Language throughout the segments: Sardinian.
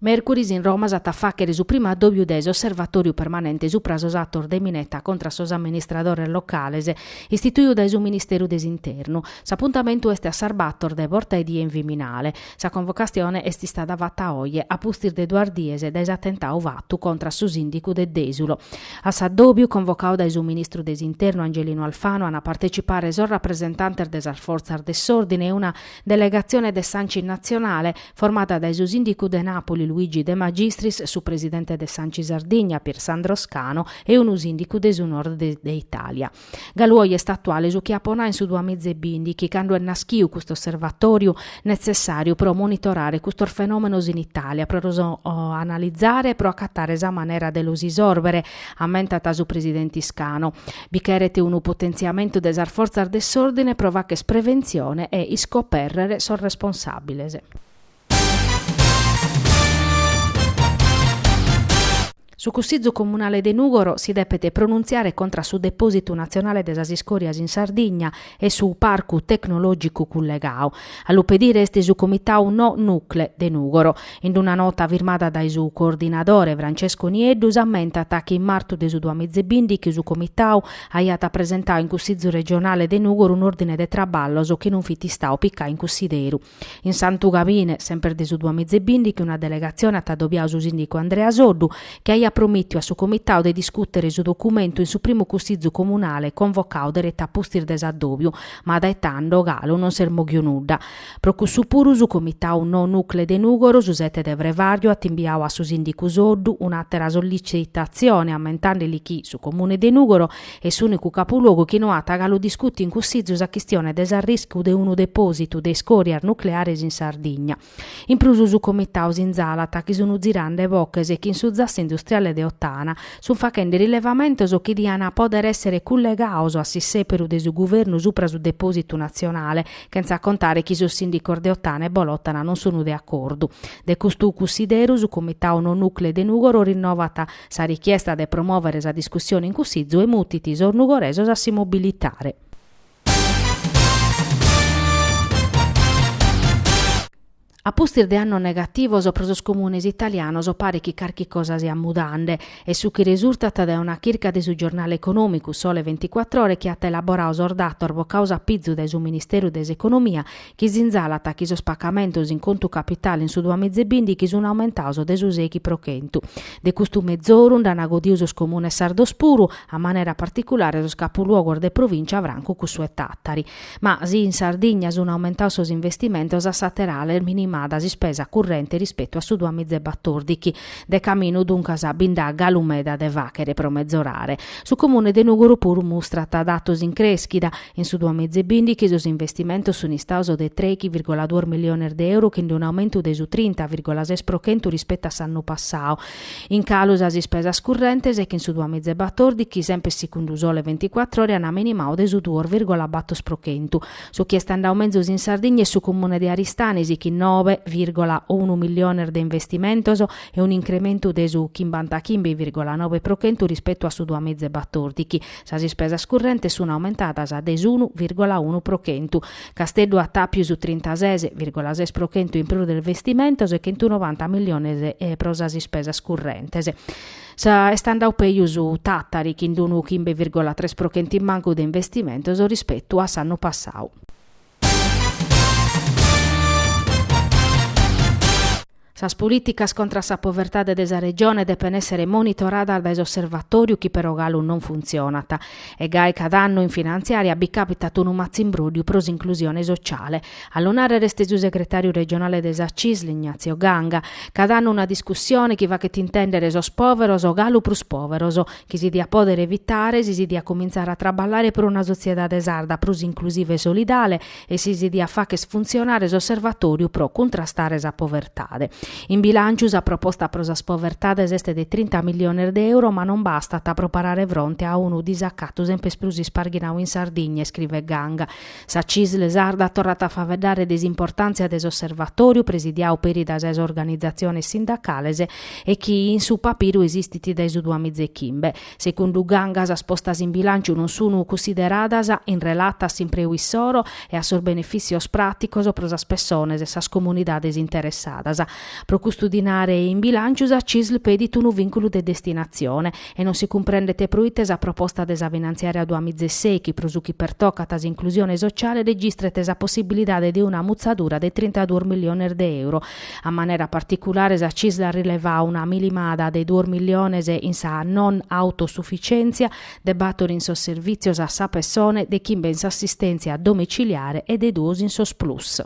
Mèrcuris in Roma s'at a fàghere su primu adòbiu de s'osservatòriu permanente supra sos atos de mineta contra a sos amministradores locales, istituidu dae su Ministeru de s'Internu. S'apuntamentu est a sas bator de borta 'e die in Viminale. Sa convocatzione est istada fata oje, a pustis de duas dies dae s'atentadu fatu contra a su sìndicu de Dèsulo. A s'adòbiu, convocadu dae su Ministru de s'Internu Angelino Alfano, an a partecipare sos rapresentantes de sas fortzas de s'òrdine e una Delegatzione de s'Anci Natzionale, formada dae su Sìndicu de Nàpuli Luigi De Magistris, su presidente de s'Anci Sardigna Pier Sandro Scano e unu sìndicu de su Nord de Itàlia. Galu oje est atuale su chi apo nau in su duas miza e bindighi, cando est naschiu cust'osservatòriu netzessàriu pro monitorare custos fenòmenos in Itàlia, pro los analizare e pro acatare sa manera de los isòrbere, ammentat su presidenti Scano. Bi cheret unu potentziamentu de sas fortzas de s'òrdine pro fagher preventzione e iscopèrrere sos responsàbiles. Su Cussizu Comunale de Nùgoro si depet pronuntziare contra a su depòsitu natzionale de sas iscòrias in Sardigna e su Parcu Tecnològicu cullegau. A lu pedire est su Comitau No Nucle de Nùgoro. In una nota firmada dae su coordinadore Francesco Nieddu s'ammentat chi in martu de su duas miz e bindighi su Comitau aiat presentau in Cussizu Regionale de Nùgoro un'òrdine de traballos chi non fit istau picau in cussideru In Santu Gabine, semper de su duamiza e bìndighi, una delegatzione at adobiadu su sìndigu Andrea Soddu, chi aiat promìtiu a su Comitadu de discùtere su documentu in su primu Cussizu Comunale convocau deretu a pustis de s'adòbiu, ma dae tando, galu, non s'est mòghiu nudda. Pro cussu puru su Comitadu No Nucle de Nùgoro, su sete de frevàriu, at imbiadu a su sìndigu Soddu un'àtera sollitzitatzione ammentande-li chi su Comune de Nùgoro est s'unicu capuluogu chi no at galu discutiu in cussizu sa chistione de s'arriscu de unu depositu de iscorias nucleares in Sardigna. In prus su Comitau sinzalat chi sunu zirande boches chi in su zassu industriale de Ottana sun fachende rilevamentos chi dian poder essere cullegaos a s'issèperu de su guvernu supra su depositu natzionale, chentza contare chi sos sindicos de Ottana e Bolottana non sunu de acordu. De custu cussideru su Comitau No Nucle de Nugoro rinnovat Sa richiesta de promòvere sa discussione in cussizu e mutit sos nugoresos a si mobilitare. A pustis de annos negativos pro sos comunes italianos paret chi carchi cosa siat mudande, est su chi resurtat dae una chirca de su giornale econòmicu Sole venticuattr'Ore chi at elaboradu sos datos bocados a pizu dae su Ministeru de s'Economia chi sinzalat chi sos pacamentos in contu capitale in su duamizebìndighi sun aumentados de su seghi pro chentu. De custu mezoru nd'an godidu sos comunes sardos puru, a manera particulare sos capuluogos de provìncia francu cussu 'e Tàtari. Ma si in Sardigna sun aumentados sos investimentos a s'àter'ala est minimada s'ispesa currente rispetu a su duamizebatordighi. De caminu duncas bi nd'at galu meda de fàghere pro mezorare. Su comune de Nùgoro puru mustrat datos in crèschida. In su duamiza e bìndighi sos investimentos sunt istados de tres virgola duos miliones de euro chin d'un aumentu de su trinta virgola ses pro chentu rispetu a s'annu passadu. In calu sas ispesas currentes chi in su duamiza e batòrdighi, semper segundu su Sole venticuatr'Ore, ant minimadu de su duos virgola bator pro chentu. Su chi est andadu mezus in Sardigna est su Comune de Aristanis chin nobe virgola unu miliones de investimentos e un'incrementu de su chimbantachimbi virgola nobe pro chentu rispetu a su duamiza e batòrdighi. Sas ispesas currentes sun aumentadas de s'unu vìrgola unu pro chentu. Casteddu at àpius trintases vìrgola ses pro chentu in prus de investimentos e chentunovanta milliones pro sas ispesas currentes. Est andadu pejus Tàtari chin d'unu chimbe vìrgola tres pro chentu in mancu de investimentos rispetu a s'annu passadu. Sas polìticas contra a sa povertade de sa Regione depent èssere monitoradas dae s'Osservatòriu chi però galu non funtzionat. E gai cada annu in finantziària bi càpitat unu matzimbróddiu pro s'inclusione sotziale. A lu nàrrere est su segretàriu regionale de sa Cisl, Ignazio Ganga. Cada annu una discussione chi faghet intèndere sos pòveros galu prus pòveros, chi si diat pòdere evitare si si diat comintzare a traballare pro una sotziedade sarda prus inclusiva e solidale e si si diat fagher funtzionare s'Osservatòriu pro cuntrastare sa povertade. In bilànciu sa proposta pro sas povertades est de trinta milliones de euro ma non bastat pro parare fronte a unu disacatu semper prus isparghinadu in Sardigna, iscrivet Ganga. Sa CISL sarda torrat a faeddare de s'importàntzia de s'osservatòriu presidiadu peri dae sas organizatziones sindacales e chi in su papiru esistit dae su duamiza e chimbe. Segundu Ganga sas postas in bilànciu non sunu cunsideradas in relata a s'impreu issoro e a sos benefìtzios pràticos pro sas pessones e sas comunidades interessadas. Pro custu dinare in bilànciu sa CISL pedit unu vìnculu de destinatzione E non si cumprendet proite sa proposta de sa finantziària duamizesei chi pro su chi pertocat s'inclusione sociale registrat sa possibilidade de una mutzadura de trintaduos milliones de euro. A manera particulare sa Cisl at rilevadu una minimada de duos milliones in sa non autosufitzièntzia de bator in sos servìtzios a sa pessone, de chimbe in s'assistèntzia domitziliare e de duos in sos Plus.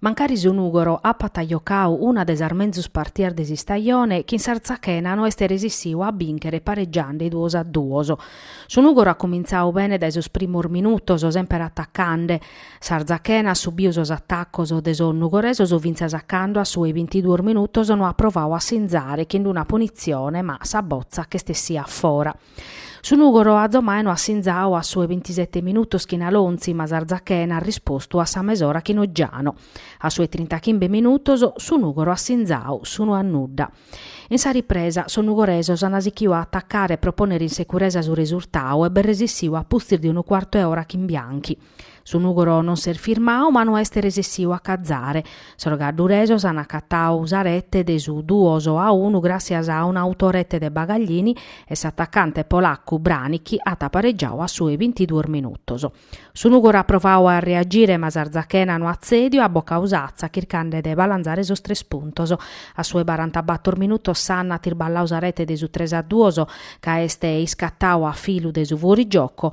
Mancari su Nùgoro apat jocau una de sas menzus partias de s'istajone, chin s'Artzachena no est resissiu a bìnchere paregiande duos a duos. Su Nùgoro at cumintzau bene dae sos primos minutos, semper atacande. S'Artzachena at subiu sos atacos de sos nugoresos fintzas a cando a su 'e bintiduos minutos no at provau a sinzare chin una punitzione ma sa botza ch'est essìa fora. Su Nùgoro azomai no at sinzau a su 'e bintisete minutos chin Alonzi, ma s'Artzachena at rispostu a sa mesora chin Oggiano. A su 'e trintachimbe minutos su Nùgoro at sinzau s'unu a nudda. In sa ripresa sos nugoresos ant sichiu a atacare e pro pònnere in securesa su resurtau e b'est resissiu a pustis de unu cuartu 'e ora chin Bianchi. Su Nùgoro non s'est firmau ma no est resessiu a cazare. Sos gadduresos an acatau sa rete de su duos a unu gràssias a un'autorete de Bagaglini e s'atacante polaccu Branicki at paregiau a su 'e bintiduos minutos. Su Nùgoro at provau a reagire ma s'Artzachena no at tzèdiu e at bocau s'atza chircande de balanzare sos tres puntos. A su 'e barantabator minutos Sanna at irballau sa rete de su tres a duos ca est iscatau a filu de su fuorigioco